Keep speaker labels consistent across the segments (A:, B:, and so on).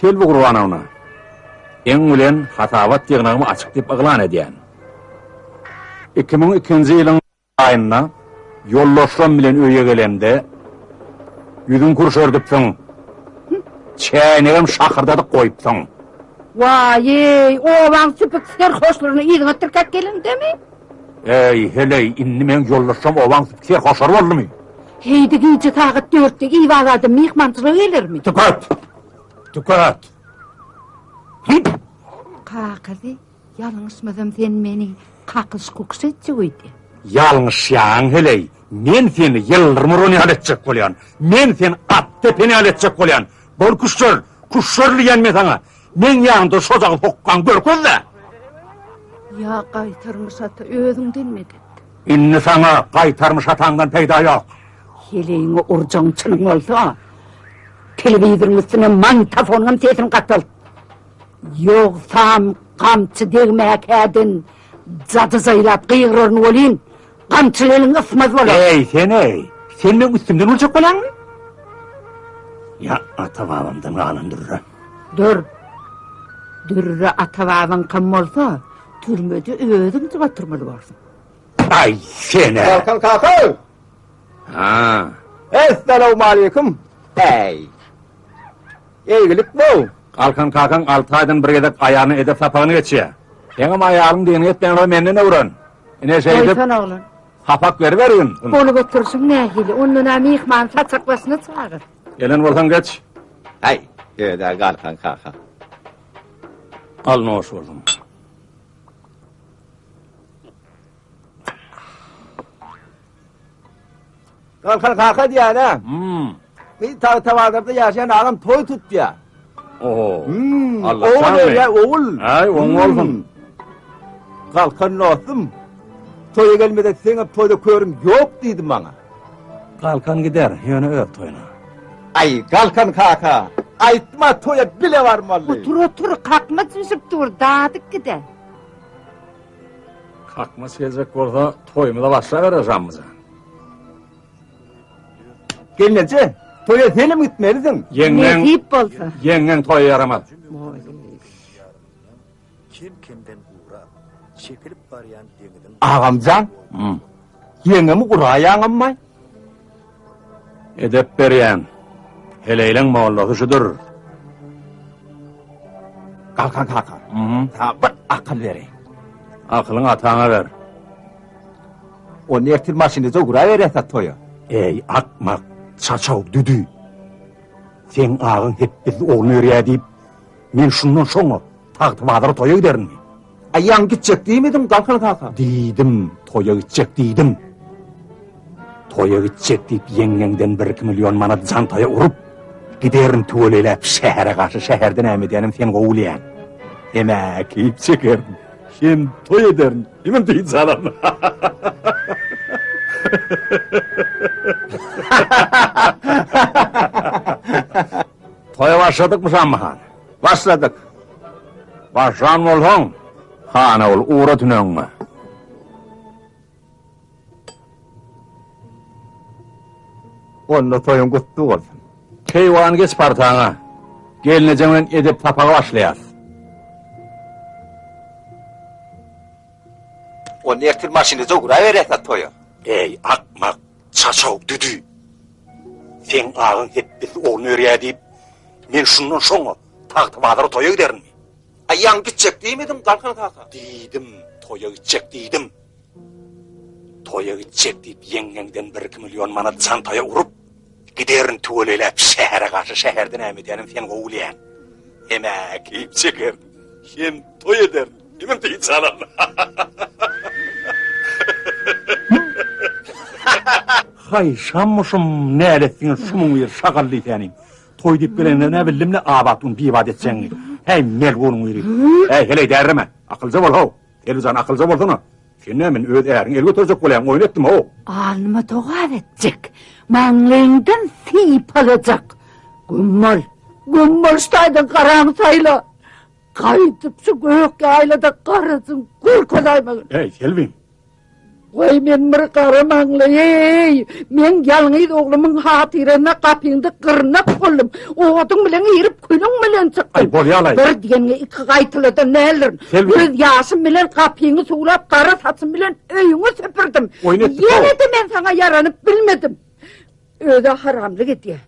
A: Selbi Gurbanowna, eň bilen hasabat ýygnagymy açyk diýip yglan edýän. 2002-nji ýylyň aýynda ýoldaşlarym bilen öýe gelemde, Ýüzüňi kürşerdipsiň, çäýnegem şakyrdadyp goýupsyň.
B: Waý-eý, obaň süpük serhoşlaryny yzyňa tirkäp gelendemi? Äý,
A: heleý, indi meň ýoldaşlarym obaň süpük serhoşlary boldumy? Heý-de gije
B: sagat dörtde Iwag adam myhmançylyga gelermi? Tüket! Tüket!
A: Hyýt!
B: Kakasy Ýalňyşmasam sen meni kakyş kukyş etjek öýdýän. Ýalňyşýaň
A: heleý, men seni ýyldyrmyron ýaly etjek bolýan, men seni at depen ýaly etjek bolýan, bol küşşer, küşşer diýýän men saňa, meň ýanymda şo dagy hokgaň görkezde. Ýa
B: gaýtarmyş ata özüňden medet. Indi saňa
A: gaýtarmyş ataňdan peýda ýok. Heleýiňi
B: urjagyň çyn bolsa, telewizoryň üstüne magnitofondan sesini gataltd. Ýogsam, gamçy degmäkädin jady-jaýlap gygyraryn welin, gamçyly eliň ysmaz bolar. Eý, sen-eý! Sen
A: meň üstümden boljak balaňmy? Ýa ata-babamdan galan dürre? Dür.
B: Dürre ata-babaňkam bolsa, türmede özüň-de oturmaly borsuň. Aý,
A: sen-ä! Balkan kaka!
C: Haa. Essalawmaleýkum. Äý. Eýgilik bol. Galkan kakaň
A: alty aýdan bir gezek aýalyna edep sapagyny geçýär. Seňem aýalyň diýeniňi etmeýän bolsa menden öwren. Ine şeýdip. Goýsan oglan. Sapak
B: beriberin.
A: Ony göterişiň
B: nähili? Onda-a myhmany saçak başyna çagyr. Gelen bolsaň geç.
A: Äý,
C: öde Galkan kaka.
A: Al noş bolsun.
C: Galkan kaka diýýär-ä. Hmm. Bir tag tawazada ýaşaýan agam toý tutýar. Oho.
A: Hmm. Allah oğul
C: şanly. ya oğul. Ay oň hmm. olsun. Galkan dostum. Toýa gelmede seň toýda körüm ýok diýdi maňa. Galkan
A: gider, ýöne öz toýuna. Ay
C: Galkan kaka. Aýtma toýa bile barmaly. Otur otur kakma
B: düşüp dur, dadyk gider.
A: Kakmys geljek bolsa toýumyza başlaberer Janmyjan.
C: Gelneje, toýa senem gitmelisin. Ýeňňeň Nesip bolsa.
B: Ýeňňeň toýa ýaramaz.
A: Kem-kemden
D: gurap, çekilip barýan deňiziň Agamjan,
C: ýeňňemi guraýaňammaý? Edep
A: berýän heleýleň mollasy şudur.
C: Galkan kaka, saňa bir akyl bereýin. Akylyňy
A: ataňa ber.
C: Onda ertir maşyny doguraberýäs-ä toýa. Eý, akmak,
A: çaçaw, düdü! Seň agyň hepbizli oglan örýär diýip, men şundan soň-a Tagtabazara toýa giderin. Aýaň gitjek
C: diýmediň, Galkan kaka? Diýdim, toýa
A: gitjek diýdim. Toýa gitjek diýip ýeňňeňden bir iki million manat jantaýa urup, giderin tüweleläp şähere garşy şäherde näme edýänim sen gowy bilýän. Hemä keýp çekerin, hem toý ederin, hemem dynç alaryn. Toýa başladykmyşam, han? Başladyk. Başlan bolsaň, hana bol, ugra tüneňňe.
C: Onda toýuň gutly bolsun. Keýwan geç
A: partaňa. Gelnejeň bilen edep sapagy başlaýarys. Onda ertir
C: maşynda ugraberýäs-ä toýa. Eý, akmak,
A: Çaçaw düdü! Seň agyň hepbizli ogluny örýär diýip, men şundan şoňa Tagtabazara toýa giderinmi? Aýagyň gitjek
C: diýmediňmi, Galkan kaka? Diýdim, toýa
A: gitjek diýdim. Toýa gitjek diýip, ýeňňeňden bir-iki million manat çantaýa urup, giderin tüweleläp şähere garşy, şäherde näme edýänim seni gowy bilýän. Hem-ä keýp çekerin, hem toý ederin. Diňe peýin çalan. Haý şammuşum näletdiňiz şumuň ýeri şagally säniň. Toý diýip gelenler nä bildimle abat gün bibat etjeňi. Häý melgunyň ýeri. Häý heleý därreme. Akylja bol how. Elbijan akylja bolsana. Sen nä men öz äriň el göterjek bolýan oýun etdim how. Alnyma dogap
B: etjek. Maňlaýyňdan sypalajak. Güm bol. Güm bol şu taýdan garaňy saýla. Gaýdyp şu gök ýaýlada garasyn görkezäýmegin. Eý,
A: Selbim!
B: Goý men bir gara maňlaýy, men ýalňyz oglumyň hatyryna gapyňda gyrnak boldum. Oduň bilen girip, külüň bilen çykdym. Aý, bolýar-laý! Bir
A: diýeniňi iki
B: gaýtaladan nälirin. Selbim! Göz ýaşym bilen gapyňy suwlap, gara saçym bilen öýüňi süpürdim. Oýun etdik-ow! Ýene-de men saňa ýaranyp bilmedim. Özä haramlyk edýär.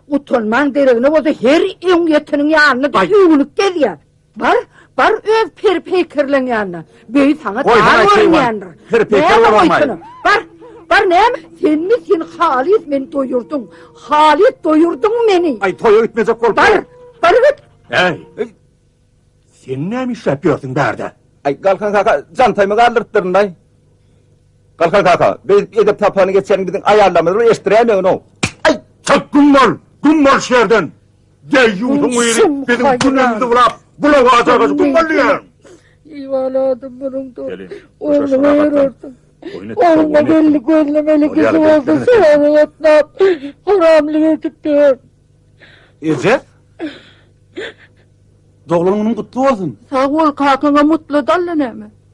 B: Utanman deregine bolsa her öň ýeteniň ýanyna Aý. öwünip gezýär. Bar, bar öz peri-peýkerleň ýanyna. Beý saňa Goý, dar haýt, keýwan. görünýändir. Peri-peýker Näme bolamay.
A: goýsana? Bar, bar
B: näme? Senmi sen halys meni doýurdyň. Halys doýurdyň meni. Aý, toýa gitmejek bolup
A: Bar, dur. bar git.
B: Äý,
A: Sen näme işläp ýörsüň bärde? Aý, Galkan kaka,
C: jantaýymy galdyrypdyryn-laý. Galkan kaka, biz edep sapany geçerin biziň aýallarymyz bir eşdiräýmegin-ow. Aý, çalt
A: güm bol, güm bol şu ýerden. Deýýusyň biri biziň günümizi bulap, bulaga atargaç güm bol diýýän. Iwaladym
B: munyň-da. Gelin, köşeşi
A: rahatlan.
B: Ogluma gelin gözlemeli kişi bolsa, şoňa gatnap, haramlyk edip ýör. Eje! Doglan günüň gutly
C: bolsun!
B: Sag bol kakaňa mutlu
C: dally
B: näme.